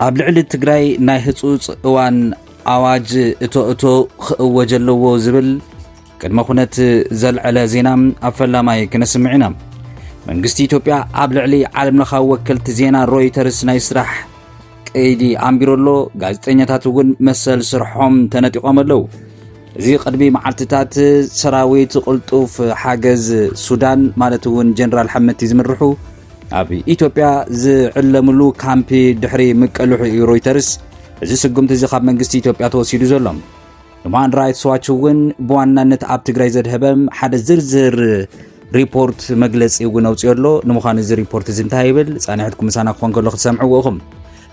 ኣብ ልዕሊ ትግራይ ናይ ህፁፅ እዋን ኣዋጅ እቶ እቶ ክእወጀ ኣለዎ ዝብል ቅድመ ኩነት ዘልዐለ ዜና ኣብ ፈላማይ ክነስምዕ ኢና መንግስቲ ኢትዮጵያ ኣብ ልዕሊ ዓለምለኻዊ ወከልቲ ዜና ሮይተርስ ናይ ስራሕ ቀይዲ ኣንቢሩ ኣሎ፣ ጋዜጠኛታት እውን መሰል ስርሖም ተነጢቖም ኣለዉ። እዚ ቅድሚ መዓልትታት ሰራዊት ቅልጡፍ ሓገዝ ሱዳን ማለት እውን ጀነራል ሓመቲ ዝምርሑ ኣብ ኢትዮጵያ ዝዕለምሉ ካምፒ ድሕሪ ምቀልሑ እዩ ሮይተርስ እዚ ስጉምቲ እዚ ካብ መንግስቲ ኢትዮጵያ ተወሲዱ ዘሎ ሁማን ራይትስ ዋች እውን ብዋናነት ኣብ ትግራይ ዘድሀበ ሓደ ዝርዝር ሪፖርት መግለፂ እውን ኣውፅኦ ኣሎ ንምዃኑ እዚ ሪፖርት እዚ እንታይ ይብል ፃንሕትኩም ምሳና ክኾን ከሎ ክትሰምዕዎ ኢኹም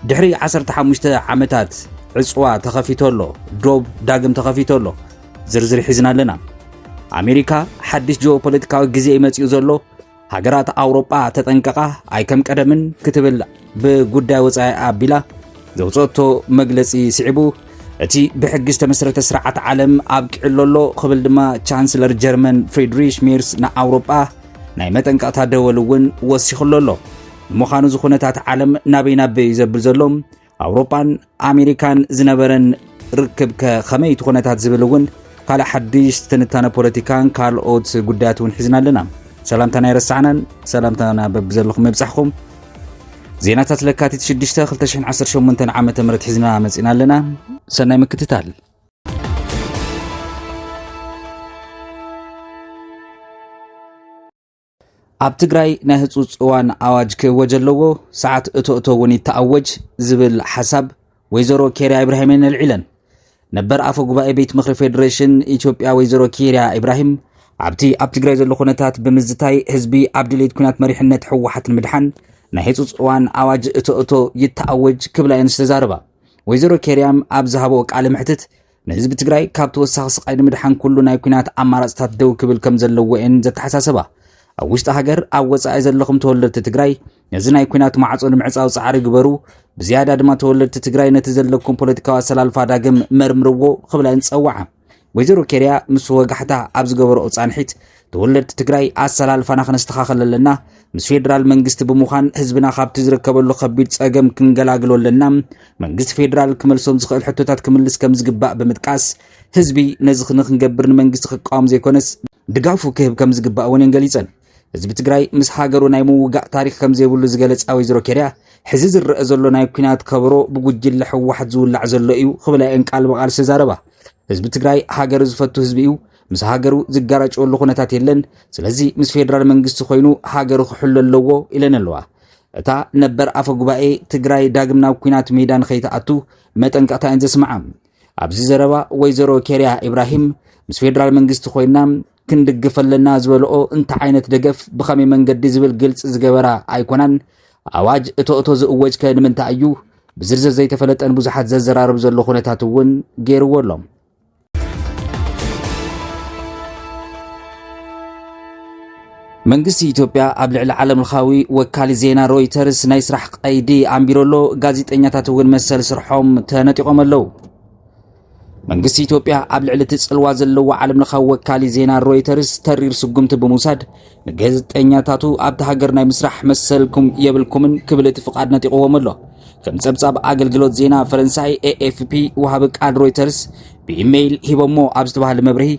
ድሕሪ 15 ዓመታት ዕፅዋ ተኸፊቶ ኣሎ ዶብ ዳግም ተኸፊቶ ኣሎ ዝርዝር ሒዝና ኣለና ኣሜሪካ ሓድሽ ጂኦፖለቲካዊ ግዜ ይመፅኡ ዘሎ ሃገራት ኣውሮጳ ተጠንቀቓ ኣይከም ቀደምን ክትብል ብጉዳይ ወጻኢ ኣቢላ ዘውፅኦቶ መግለፂ ስዒቡ እቲ ብሕጊ ዝተመስረተ ስርዓት ዓለም ኣብቂዕሎ ኣሎ ክብል ድማ ቻንስለር ጀርመን ፍሬድሪሽ ሜርስ ንኣውሮጳ ናይ መጠንቀቕታ ደወል እውን ወሲኽሎ ኣሎ ንምዃኑ እዚ ኩነታት ዓለም ናበይ ናበይ እዩ ዘብል ዘሎ ኣውሮጳን ኣሜሪካን ዝነበረን ርክብ ከ ከመይ እቲ ኩነታት ዝብል እውን ካልእ ሓድሽ ትንታነ ፖለቲካን ካልኦት ጉዳያት እውን ሒዝና ኣለና ሰላምታና ይረሳዕናን ሰላምታና በብዘለኹም መብጻሕኹም ዜናታት ለካቲት 6 218 ዓ ም ሒዝና መጺና ኣለና ሰናይ ምክትታል ኣብ ትግራይ ናይ ህፁፅ እዋን ኣዋጅ ክእወጀ ኣለዎ፣ ሰዓት እቶ እቶ እውን ይተኣወጅ ዝብል ሓሳብ ወይዘሮ ኬርያ ኢብራሂምን ኣልዒለን። ነበር ኣፈ ጉባኤ ቤት ምክሪ ፌዴሬሽን ኢትዮጵያ ወይዘሮ ኪርያ ኢብራሂም ኣብቲ ኣብ ትግራይ ዘሎ ኩነታት ብምዝታይ ህዝቢ ኣብ ድሌት ኩናት መሪሕነት ህወሓት ንምድሓን ናይ ህፁፅ እዋን ኣዋጅ እቶ እቶ ይተኣወጅ ክብላ እየን ዝተዛረባ ወይዘሮ ኬርያም ኣብ ዝሃበኦ ቃለ መሕትት ንህዝቢ ትግራይ ካብ ተወሳኺ ስቃይ ንምድሓን ኩሉ ናይ ኩናት ኣማራፅታት ደው ክብል ከም ዘለዎ እየን ዘተሓሳሰባ። ኣብ ውሽጢ ሃገር ኣብ ወፃኢ ዘለኹም ተወለድቲ ትግራይ ነዚ ናይ ኩናት ማዕፆ ንምዕፃው ፃዕሪ ግበሩ ብዝያዳ ድማ ተወለድቲ ትግራይ ነቲ ዘለኩም ፖለቲካዊ ኣሰላልፋ ዳግም መርምርዎ ክብላ ይንፀዋዓ ወይዘሮ ኬርያ ምስ ወጋሕታ ኣብ ዝገበረኦ ፃንሒት ተወለድቲ ትግራይ ኣሰላልፋና ክነስተኻኸል ኣለና ምስ ፌዴራል መንግስቲ ብምዃን ህዝብና ካብቲ ዝርከበሉ ከቢድ ጸገም ክንገላግሎ ኣለና መንግስቲ ፌዴራል ክመልሶም ዝኽእል ሕቶታት ክምልስ ከም ዝግባእ ብምጥቃስ ህዝቢ ነዚ ንክንገብር ንመንግስቲ ክቃወም ዘይኮነስ ድጋፉ ክህብ ከም ዝግባእ እውን እየን ገሊጸን ህዝቢ ትግራይ ምስ ሃገሩ ናይ ምውጋእ ታሪክ ከም ዘይብሉ ዝገለጻ ወይዘሮ ኬርያ ሕዚ ዝረአ ዘሎ ናይ ኩናት ከበሮ ብጉጅለ ሕወሓት ዝውላዕ ዘሎ እዩ ክብላ እየን ቃል ብቓል ዝተዛረባ ህዝቢ ትግራይ ሃገር ዝፈቱ ህዝቢ እዩ ምስ ሃገሩ ዝጋራጨወሉ ኩነታት የለን ስለዚ ምስ ፌደራል መንግስቲ ኮይኑ ሃገሩ ክሕሎ ኣለዎ ኢለን ኣለዋ እታ ነበር ኣፈ ጉባኤ ትግራይ ዳግም ናብ ኩናት ሜዳ ንኸይትኣቱ መጠንቀቕታ እየን ዘስምዓ ኣብዚ ዘረባ ወይዘሮ ኬርያ ኢብራሂም ምስ ፌደራል መንግስቲ ኮይና ክንድግፍ ኣለና ዝበልኦ እንታይ ዓይነት ደገፍ ብኸመይ መንገዲ ዝብል ግልፂ ዝገበራ ኣይኮናን ኣዋጅ እቶ እቶ ዝእወጅ ከ ንምንታይ እዩ ብዝርዝር ዘይተፈለጠን ብዙሓት ዘዘራርብ ዘሎ ኩነታት እውን ገይርዎ ኣሎ መንግስቲ ኢትዮጵያ ኣብ ልዕሊ ዓለም ለኻዊ ወካሊ ዜና ሮይተርስ ናይ ስራሕ ቀይዲ ኣንቢሮ ኣሎ ጋዜጠኛታት እውን መሰል ስርሖም ተነጢቖም ኣለዉ መንግስቲ ኢትዮጵያ ኣብ ልዕሊ እቲ ጽልዋ ዘለዎ ዓለም ለኻዊ ወካሊ ዜና ሮይተርስ ተሪር ስጉምቲ ብምውሳድ ንገዝጠኛታቱ ኣብቲ ሃገር ናይ ምስራሕ መሰልኩም የብልኩምን ክብል እቲ ፍቓድ ነጢቕዎም ኣሎ። ከም ጸብጻብ ኣገልግሎት ዜና ፈረንሳይ ኤኤፍፒ ወሃቢ ቃል ሮይተርስ ብኢሜይል ሂቦሞ ኣብ ዝተባሃለ መብርሂ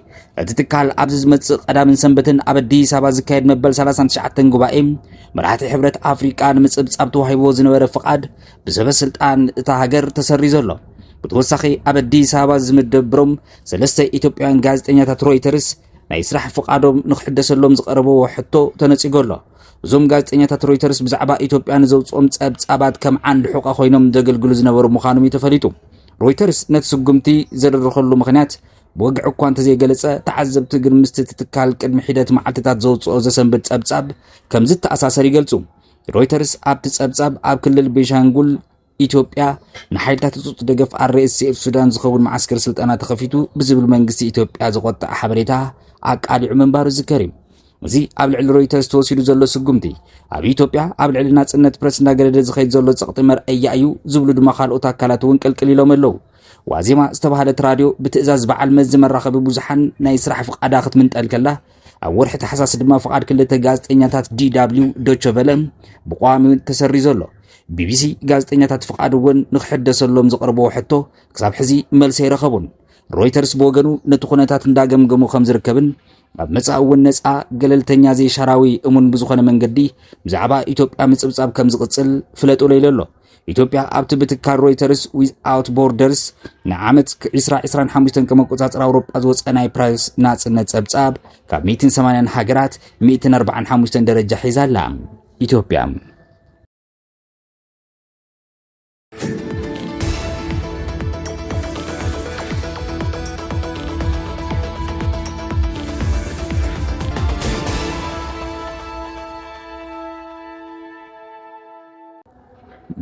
እቲ ትካል ኣብዚ ዝመጽእ ቀዳምን ሰንበትን ኣብ ኣዲስ ኣበባ ዝካየድ መበል 39 ጉባኤ መራሕቲ ሕብረት ኣፍሪቃ ንምጽብጻብ ተዋሂቦ ዝነበረ ፍቓድ ብሰበ ስልጣን እታ ሃገር ተሰሪዞ ኣሎ። ብተወሳኺ ኣብ ኣዲስ ኣበባ ዝምደብሮም ሰለስተ ኢትዮጵያውያን ጋዜጠኛታት ሮይተርስ ናይ ስራሕ ፍቓዶም ንክሕደሰሎም ዝቐረበዎ ሕቶ ተነጺጎ ኣሎ። እዞም ጋዜጠኛታት ሮይተርስ ብዛዕባ ኢትዮጵያ ንዘውፅኦም ጸብጻባት ከም ዓንዲ ሑቐ ኮይኖም ዘገልግሉ ዝነበሩ ምዃኖም እዩ ተፈሊጡ። ሮይተርስ ነቲ ስጉምቲ ዘደረኸሉ ምክንያት ብወግዒ እኳ እንተዘይገለጸ ተዓዘብቲ ግን ምስቲ እቲ ትካል ቅድሚ ሒደት መዓልትታት ዘውፅኦ ዘሰንብድ ጸብጻብ ከም ዝተኣሳሰር ይገልጹ። ሮይተርስ ኣብቲ ጸብጻብ ኣብ ክልል ቤንሻንጉል ኢትዮጵያ፣ ንሓይልታት ህጹጽ ደገፍ RSF ሱዳን ዝኸውን መዓስከር ስልጠና ተኸፊቱ ብዝብል መንግስቲ ኢትዮጵያ ዘቖጠዐ ሓበሬታ ኣቃሊዑ ምንባሩ ዝዝከር እዩ። እዚ ኣብ ልዕሊ ሮይተርስ ተወሲዱ ዘሎ ስጉምቲ ኣብ ኢትዮጵያ ኣብ ልዕሊ ናጽነት ፕረስ እናገደደ ዝኸይድ ዘሎ ጸቕጢ መርኣያ እዩ ዝብሉ ድማ ካልኦት ኣካላት እውን ቅልቅል ኢሎም ኣለዉ። ዋዜማ ዝተባህለት ራድዮ ብትእዛዝ በዓል መዚ መራኸቢ ብዙሓን ናይ ስራሕ ፍቓዳ ክትምንጠል ከላ ኣብ ወርሒ ታሕሳስ ድማ ፍቓድ ክልተ ጋዜጠኛታት ዲዳብሊው ዶቸ ቨለ ብቋሚ ተሰሪዞ ኣሎ። ቢቢሲ ጋዜጠኛታት ፍቓድ እውን ንክሕደሰሎም ዘቕርብዎ ሕቶ ክሳብ ሕዚ መልሲ ኣይረኸቡን። ሮይተርስ ብወገኑ ነቲ ኩነታት እንዳገምገሙ ከም ዝርከብን ኣብ መጻኢ እውን ነጻ ገለልተኛ ዘይሻራዊ እሙን ብዝኾነ መንገዲ ብዛዕባ ኢትዮጵያ ምጽብጻብ ከም ዝቕጽል ፍለጡ ለይሉ ኣሎ። ኢትዮጵያ ኣብቲ ብትካል ሮይተርስ ዊዝኣውት ቦርደርስ ንዓመት 2025 ከም ኣቆጻጽራ ኣውሮጳ ዝወፀ ናይ ፕረስ ናጽነት ጸብጻብ ካብ 180 ሃገራት 145 ደረጃ ሒዛ ኣላ ኢትዮጵያ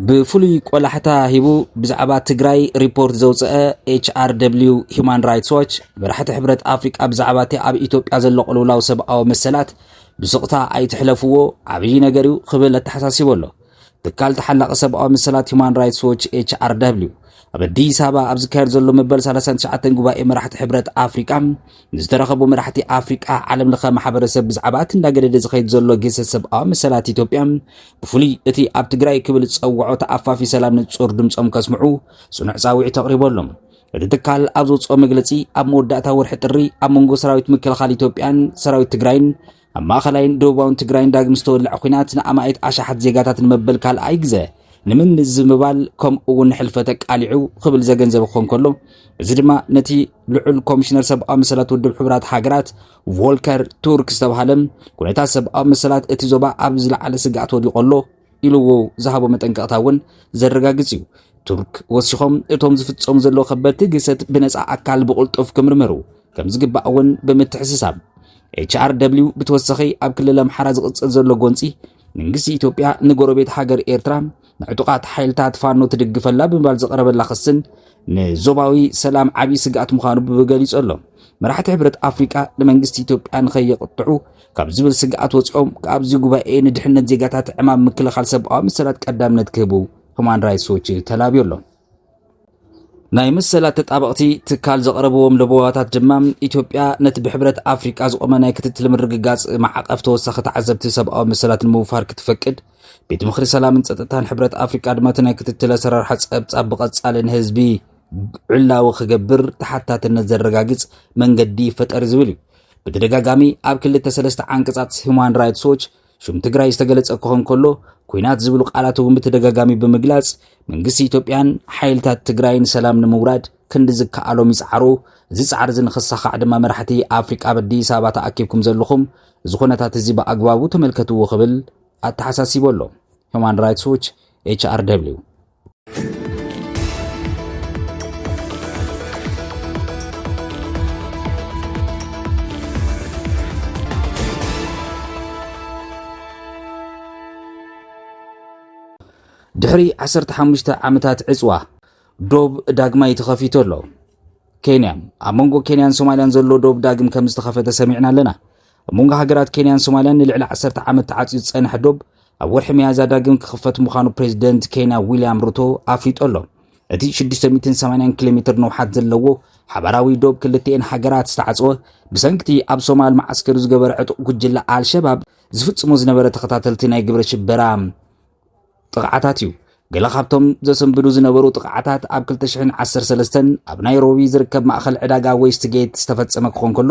ብፍሉይ ቆላሕታ ሂቡ ብዛዕባ ትግራይ ሪፖርት ዘውፀአ HRW Human Rights Watch መራሕቲ ሕብረት ኣፍሪቃ ብዛዕባ እቲ ኣብ ኢትዮጵያ ዘሎ ቅልውላው ሰብኣዊ መሰላት ብስቕታ ኣይትሕለፍዎ ዓብዪ ነገር እዩ ክብል ኣተሓሳሲቡ ኣሎ። ትካል ተሓላቂ ሰብኣዊ መሰላት ሁማን ራይትስ ዎች ኤችኣርዳብሊው ኣብ ኣዲስ ኣበባ ኣብ ዝካየድ ዘሎ መበል 39 ጉባኤ መራሕቲ ሕብረት ኣፍሪቃ ንዝተረኸቡ መራሕቲ ኣፍሪቃ ዓለም ለኸ ማሕበረሰብ ብዛዕባ እቲ እንዳገደደ ዝኸይድ ዘሎ ግህሰት ሰብኣዊ መሰላት ኢትዮጵያ ብፍሉይ እቲ ኣብ ትግራይ ክብል ዝፀውዖ ተኣፋፊ ሰላም ንፁር ድምፆም ከስምዑ ፅኑዕ ፃውዒት ኣቕሪቦሎም እቲ ትካል ኣብ ዘውፅኦ መግለፂ ኣብ መወዳእታ ወርሒ ጥሪ ኣብ መንጎ ሰራዊት ምክልኻል ኢትዮጵያን ሰራዊት ትግራይን ኣብ ማእኸላይን ደቡባውን ትግራይን ዳግም ዝተወልዐ ኲናት ንኣማኢት ኣሽሓት ዜጋታት ንመበል ካልኣይ ግዘ ንምምዝምባል ከምኡ እውን ንሕልፈተ ቃሊዑ ክብል ዘገንዘበ ክኾን ከሎ እዚ ድማ ነቲ ልዑል ኮሚሽነር ሰብኣዊ መሰላት ውድብ ሕቡራት ሃገራት ቮልከር ቱርክ ዝተባሃለ ኩነታት ሰብኣዊ መሰላት እቲ ዞባ ኣብ ዝለዓለ ስግኣት ወዲቖ ኣሎ ኢልዎ ዝሃቦ መጠንቀቕታ እውን ዘረጋግጽ እዩ። ቱርክ ወሲኾም እቶም ዝፍጸሙ ዘለዉ ከበድቲ ግሰት ብነፃ ኣካል ብቕልጡፍ ክምርመሩ ከም ዝግባእ እውን ብምትሕስሳብ ኤችኣር ደብልዩ ብተወሳኺ ኣብ ክልል ኣምሓራ ዝቕጽል ዘሎ ጎንፂ መንግስቲ ኢትዮጵያ ንጎረቤት ሃገር ኤርትራ ንዕጡቓት ሓይልታት ፋኖ ትድግፈላ ብምባል ዝቐረበላ ክስን ንዞባዊ ሰላም ዓብዪ ስግኣት ምዃኑ ብገሊጹ ኣሎ። መራሕቲ ሕብረት ኣፍሪቃ ንመንግስቲ ኢትዮጵያ ንኸየቕጥዑ ካብ ዝብል ስግኣት ወፂኦም ካብዚ ጉባኤ ንድሕነት ዜጋታት ዕማም ምክልኻል ሰብኣዊ መሰላት ቀዳምነት ክህቡ ሁማን ራይትስ ዎች ተላብዮ ኣሎ። ናይ መሰላት ተጣበቕቲ ትካል ዘቕረብዎም ለበዋታት ድማ ኢትዮጵያ ነቲ ብሕብረት ኣፍሪቃ ዝቖመ ናይ ክትትል ምርግጋጽ ማዕቐፍ ተወሳኺ ተዓዘብቲ ሰብኣዊ መሰላት ንምውፋር ክትፈቅድ ቤት ምኽሪ ሰላምን ጸጥታን ሕብረት ኣፍሪቃ ድማ እቲ ናይ ክትትል ኣሰራርሓ ጸብጻብ ብቐጻሊ ንህዝቢ ዕላዊ ክገብር ተሓታትነት ዘረጋግጽ መንገዲ ፈጠሪ ዝብል እዩ ብተደጋጋሚ ኣብ ክልተ ሰለስተ ዓንቀጻት ሁማን ራይትስ ዎች ሽም ትግራይ ዝተገለጸ ክኾን ከሎ ኩናት ዝብሉ ቃላት እውን ብተደጋጋሚ ብምግላጽ መንግስቲ ኢትዮጵያን ሓይልታት ትግራይን ሰላም ንምውራድ ክንዲ ዝከኣሎም ይጽዓሩ እዚ ጻዕሪ እዚ ንኽሳኻዕ ድማ መራሕቲ ኣፍሪቃ ኣብ ኣዲስ ኣበባ ተኣኪብኩም ዘለኹም እዚ ኩነታት እዚ ብኣግባቡ ተመልከትዎ ክብል ኣተሓሳሲቡ ኣሎ ሁማን ራይትስ ዎች ኤችኣርደብሊው ድሕሪ 15 ዓመታት ዕፅዋ ዶብ ዳግማይ ተኸፊቱ ኣሎ ኬንያ ኣብ መንጎ ኬንያን ሶማልያን ዘሎ ዶብ ዳግም ከም ዝተኸፈተ ሰሚዕና ኣለና ኣብ መንጎ ሃገራት ኬንያን ሶማልያን ንልዕሊ ዓሰርተ ዓመት ተዓጽዩ ዝጸንሐ ዶብ ኣብ ወርሒ መያዝያ ዳግም ክኽፈት ምዃኑ ፕሬዚደንት ኬንያ ዊልያም ሩቶ ኣፍሊጡ ኣሎ። እቲ 680 ኪሎ ሜትር ንውሓት ዘለዎ ሓባራዊ ዶብ ክልቲኤን ሃገራት ዝተዓጽወ ብሰንኪቲ ኣብ ሶማል መዓስከሩ ዝገበረ ዕጡቕ ጉጅለ ኣልሸባብ ዝፍጽሞ ዝነበረ ተኸታተልቲ ናይ ግብረ ሽበራ ጥቕዓታት እዩ። ገለ ካብቶም ዘሰንብዱ ዝነበሩ ጥቕዓታት ኣብ ክልተ ሽሕን ዓሰርተ ሰለስተን ኣብ ናይሮቢ ዝርከብ ማእኸል ዕዳጋ ዌስትጌት ዝተፈጸመ ክኾን ከሎ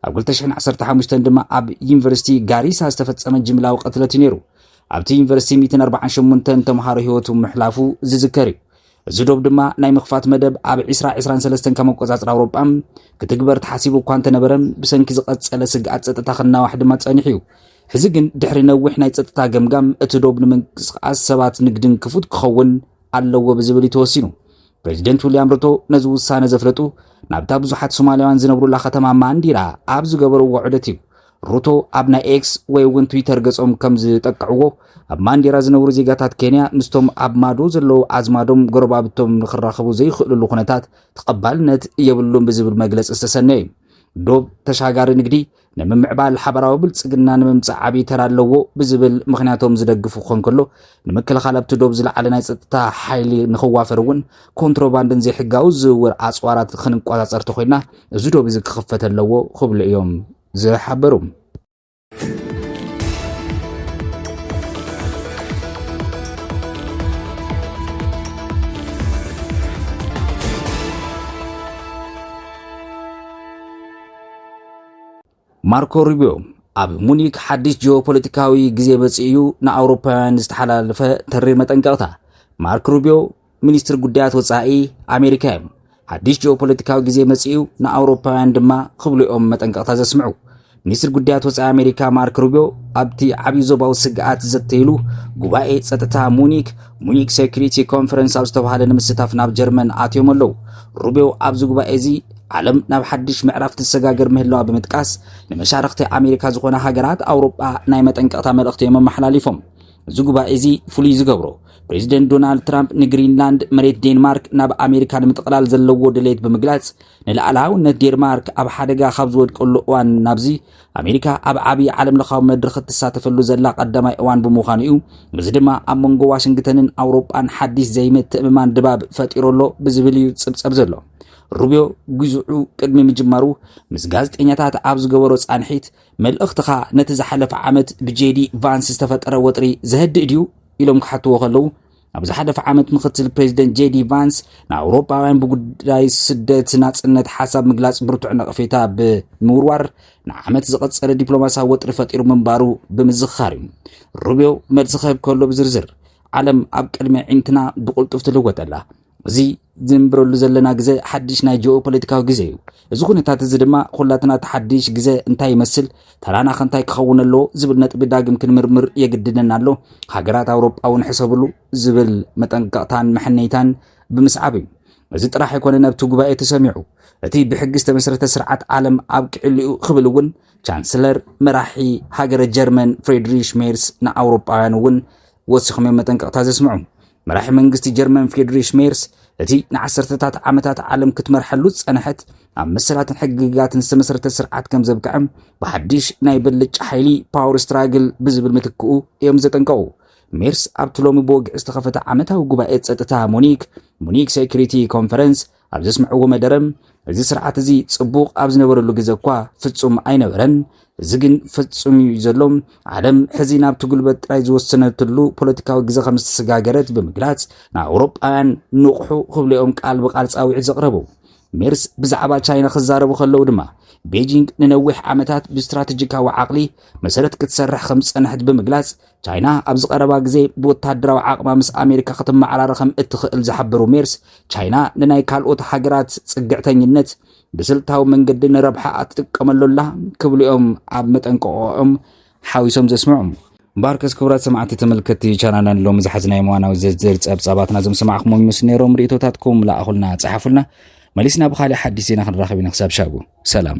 ኣብ ክልተ ሽሕን ዓሰርተ ሓሙሽተን ድማ ኣብ ዩኒቨርሲቲ ጋሪሳ ዝተፈጸመ ጅምላዊ ቅትለት እዩ ነይሩ። ኣብቲ ዩኒቨርሲቲ ሚእትን ኣርብዓን ሸሞንተን ተምሃሮ ህይወቱ ምሕላፉ ዝዝከር እዩ። እዚ ዶብ ድማ ናይ ምኽፋት መደብ ኣብ 2023 ከም ኣቆጻጽራ ኣውሮጳ ክትግበር ተሓሲቡ እኳ እንተነበረ ብሰንኪ ዝቐጸለ ስግኣት ጸጥታ ክናዋሕ ድማ ጸኒሑ እዩ። ሕዚ ግን ድሕሪ ነዊሕ ናይ ጸጥታ ገምጋም እቲ ዶብ ንምንቅስቓስ ሰባት ንግድን ክፉት ክኸውን ኣለዎ ብዝብል እዩ ተወሲኑ። ፕሬዚደንት ዊልያም ሩቶ ነዚ ውሳነ ዘፍለጡ ናብታ ብዙሓት ሶማልያውያን ዝነብሩላ ከተማ ማንዲራ ኣብ ዝገበርዎ ዑደት እዩ። ሩቶ ኣብ ናይ ኤክስ ወይ እውን ትዊተር ገጾም ከም ዝጠቅዕዎ ኣብ ማንዴራ ዝነብሩ ዜጋታት ኬንያ ምስቶም ኣብ ማዶ ዘለዉ ኣዝማዶም ጎረባብቶም ንክራኸቡ ዘይኽእልሉ ኩነታት ተቐባልነት የብሉን ብዝብል መግለፂ ዝተሰነየ እዩ ዶብ ተሻጋሪ ንግዲ ንምምዕባል ሓበራዊ ብልፅግና ንምምፃእ ዓብዪ ተራ ኣለዎ ብዝብል ምክንያቶም ዝደግፉ ክኾን ከሎ ንምክልኻል ኣብቲ ዶብ ዝለዓለ ናይ ፀጥታ ሓይሊ ንኽዋፈር እውን ኮንትሮባንድን ዘይሕጋዊ ዝውውር ኣፅዋራት ክንቆፃፀር ተኮይና እዚ ዶብ እዚ ክኽፈት ኣለዎ ክብሉ እዮም ዝሓበሩ ማርኮ ሩቢዮ ኣብ ሙኒክ ሓድሽ ጂኦፖለቲካዊ ግዜ መጺኡ እዩ ንኣውሮፓውያን ዝተሓላለፈ ተሪር መጠንቀቕታ። ማርክ ሩቢዮ ሚኒስትር ጉዳያት ወጻኢ ኣሜሪካ እዮም። ሓድሽ ጂኦፖለቲካዊ ግዜ መጺኡ ንኣውሮፓውያን ድማ ክብሉ እዮም መጠንቀቕታ ዘስምዑ። ሚኒስትር ጉዳያት ወፃኢ ኣሜሪካ ማርክ ሩቢዮ ኣብቲ ዓብዪ ዞባዊ ስግኣት ዝዘተይሉ ጉባኤ ፀጥታ ሙኒክ ሙኒክ ሴኩሪቲ ኮንፈረንስ ኣብ ዝተባሃለ ንምስታፍ ናብ ጀርመን ኣትዮም ኣለዉ። ሩቢዮ ኣብዚ ጉባኤ እዚ ዓለም ናብ ሓድሽ ምዕራፍ ትሰጋገር ምህላዋ ብምጥቃስ ንመሻርኽቲ ኣሜሪካ ዝኾና ሃገራት ኣውሮጳ ናይ መጠንቀቕታ መልእኽቲ እዮም ኣመሓላሊፎም። እዚ ጉባኤ እዚ ፍሉይ ዝገብሮ ፕሬዚደንት ዶናልድ ትራምፕ ንግሪንላንድ መሬት ዴንማርክ ናብ ኣሜሪካ ንምጥቕላል ዘለዎ ድሌት ብምግላጽ ንልኣላውነት ዴንማርክ ኣብ ሓደጋ ካብ ዝወድቀሉ እዋን ናብዚ ኣሜሪካ ኣብ ዓብዪ ዓለም ለኻዊ መድረኽ እትሳተፈሉ ዘላ ቀዳማይ እዋን ብምዃኑ እዩ። እዚ ድማ ኣብ መንጎ ዋሽንግተንን ኣውሮጳን ሓዲስ ዘይምትእምማን ድባብ ፈጢሩ ኣሎ ብዝብል እዩ ጽብጸብ ዘሎ። ሩብዮ ግዝዑ ቅድሚ ምጅማሩ ምስ ጋዜጠኛታት ኣብ ዝገበሮ ፃንሒት መልእኽትኻ ነቲ ዝሓለፈ ዓመት ብጄዲ ቫንስ ዝተፈጠረ ወጥሪ ዘህድእ ድዩ ኢሎም ክሓትዎ ከለዉ ኣብ ዝሓለፈ ዓመት ምክትል ፕሬዚደንት ጄዲ ቫንስ ንኣውሮፓውያን ብጉዳይ ስደት ናፅነት ሓሳብ ምግላፅ ብርቱዕ ነቕፌታ ብምውርዋር ንዓመት ዝቐፀለ ዲፕሎማሲያዊ ወጥሪ ፈጢሩ ምንባሩ ብምዝኻር እዩ ሩብዮ መልሲ ክህብ ከሎ ብዝርዝር ዓለም ኣብ ቅድሚ ዒንትና ብቕልጡፍ ትልወጠላ እዚ ዝንብረሉ ዘለና ግዘ ሓድሽ ናይ ጂኦ ፖለቲካዊ ግዘ እዩ። እዚ ኩነታት እዚ ድማ ኩላትና እቲ ሓድሽ ግዘ እንታይ ይመስል፣ ተራና ከ እንታይ ክኸውን ኣለዎ ዝብል ነጥቢ ዳግም ክንምርምር የግድደና ኣሎ። ሃገራት ኣውሮጳ እውን ሕሰብሉ ዝብል መጠንቀቕታን መሐነይታን ብምስዓብ እዩ። እዚ ጥራሕ ኣይኮነን ኣብቲ ጉባኤ ተሰሚዑ እቲ ብሕጊ ዝተመስረተ ስርዓት ዓለም ኣብቂዕሉ እዩ ክብል እውን ቻንስለር መራሒ ሃገረ ጀርመን ፍሬድሪሽ ሜርስ ንኣውሮጳውያን እውን ወሲኾም እዮም መጠንቀቕታ ዘስምዑ መራሒ መንግስቲ ጀርመን ፍሬድሪሽ ሜርስ እቲ ንዓሰርተታት ዓመታት ዓለም ክትመርሐሉ ዝጸንሐት ኣብ መሰላትን ሕግጋትን ዝተመሰረተ ስርዓት ከም ዘብቅዐ ብሓድሽ ናይ ብልጫ ሓይሊ ፓወር ስትራግል ብዝብል ምትክኡ እዮም ዘጠንቀቑ ሜርስ ኣብቲ ሎሚ ብወግዒ ዝተኸፈተ ዓመታዊ ጉባኤ ጸጥታ ሙኒክ ሙኒክ ሴኩሪቲ ኮንፈረንስ ኣብ ዘስምዕዎ መደረ እዚ ስርዓት እዚ ጽቡቕ ኣብ ዝነበረሉ ግዘ እኳ ፍጹም ኣይነበረን፣ እዚ ግን ፈጹም እዩ ዘሎ፣ ዓለም ሕዚ ናብቲ ጉልበት ጥራይ ዝወሰነትሉ ፖለቲካዊ ግዘ ከም ዝተሰጋገረት ብምግላጽ ንኣውሮጳውያን ንቕሑ ክብሉኦም ቃል ብቃል ጻዊዒት ዘቕረቡ ሜርስ ብዛዕባ ቻይና ክዛረቡ ከለዉ ድማ ቤጂንግ ንነዊሕ ዓመታት ብስትራቴጂካዊ ዓቕሊ መሰረት ክትሰርሕ ከም ዝጸንሐት ብምግላጽ ቻይና ኣብዚ ቀረባ ግዜ ብወተሃደራዊ ዓቕማ ምስ ኣሜሪካ ክትመዓራረ ከም እትኽእል ዝሓበሩ ሜርስ፣ ቻይና ንናይ ካልኦት ሃገራት ጽግዕተኝነት ብስልታዊ መንገዲ ንረብሓኣ ትጥቀመሉ ኣላ ክብሉ እዮም ኣብ መጠንቀቕኦም ሓዊሶም ዘስምዑ። ባርከስ ክቡራት ሰማዕቲ ተመልከቲ ቻናልና ሎሚ ዝሓዝናዮ እዋናዊ ዝርዝር ጸብጻባትና ዞም ሰማዕኹሞም ይመስሉ ነይሮም ርእቶታትኩም ለኣኹልና ጸሓፉልና መሊስና ብካሊእ ሓዲስ ዜና ክንራኸብ ኢና ክሳብ ሻቡ ሰላም